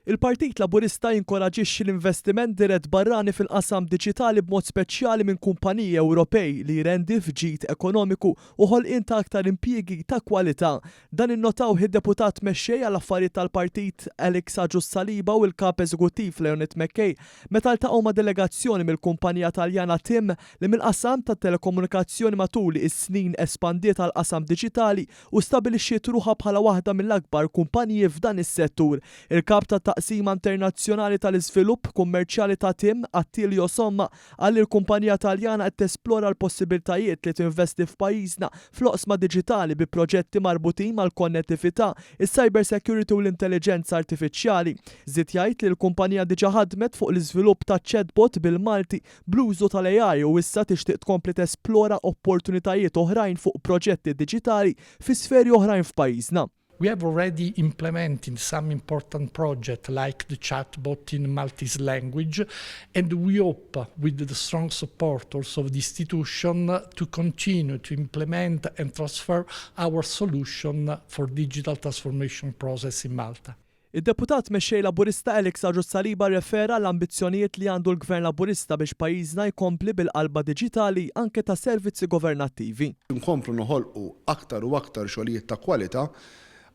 Il-Partit Laburista jinkoraġixxi l-investiment dirett barrani fil-qasam diġitali b'mod speċjali minn kumpaniji Ewropej li jrendi f'ġid ekonomiku u ħolqien ta' aktar impjiegi ta' kwalità. Dan innotawh id-Deputat Mexxej għall-Affarijiet tal-Partit Alex Agius Saliba u l-Kap Eżekuttiv Leonid McKay meta ltaqgħu ma' delegazzjoni mill-kumpanija Taljana tim li mill-qasam tat-telekomunikazzjoni matul is-snin espandiet għall-qasam diġitali u stabilixxiet ruħha bħala waħda mill-akbar kumpaniji f'dan is-settur. Il-Kap tat-Taqsima Internazzjonali tal-Iżvilupp Kummerċjali ta' tim, Attilio Somma, qal li l-kumpanija Taljana qed tesplora l-possibiltajiet li tinvesti f'pajjiżna fl-oqsma diġitali bi proġetti marbutin mal-konnettività, is-cybersecurity u l-intelliġenza artifiċjali. Żied jgħid li l-kumpanija diġà ħadmet fuq l-iżvilupp ta' chatbot bil-Malti Bl-użu tal-AI u issa tixtieq tkompli tesplora opportunitajiet oħrajn fuq proġetti diġitali fi sferi oħrajn f'pajjiżna. We have already implemented some important project like the chatbot in Maltese language and we hope with the strong support also of the institution to continue to implement and transfer our solution for digital transformation process in Malta. Id-Deputat Mexxej Laburista Alex Agius Saliba rrefera għall-ambizzjonijiet li għandu l-Gvern Laburista biex pajjiżna jkompli bil-qalba diġitali anke tas-servizzi governattivi. Inkomplu noħolqu aktar u aktar xogħlijiet ta' kwalità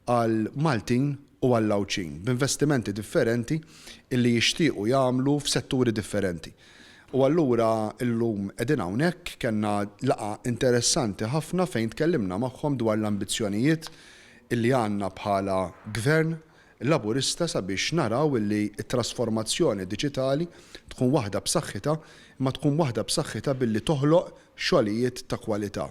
għal Maltin u għall-Għawdxin b'investimenti differenti illi jixtiequ jagħmlu f'setturi differenti. U allura llum qegħdin hawnhekk, kellna laqgħa interessanti ħafna fejn tkellimna magħhom dwar l-ambizzjonijiet li għandna bħala Gvern Laburista sabiex naraw li t-trasformazzjoni diġitali tkun waħda b'saħħitha, imma tkun waħda b'saħħitha billi toħloq xogħlijiet ta' kwalità.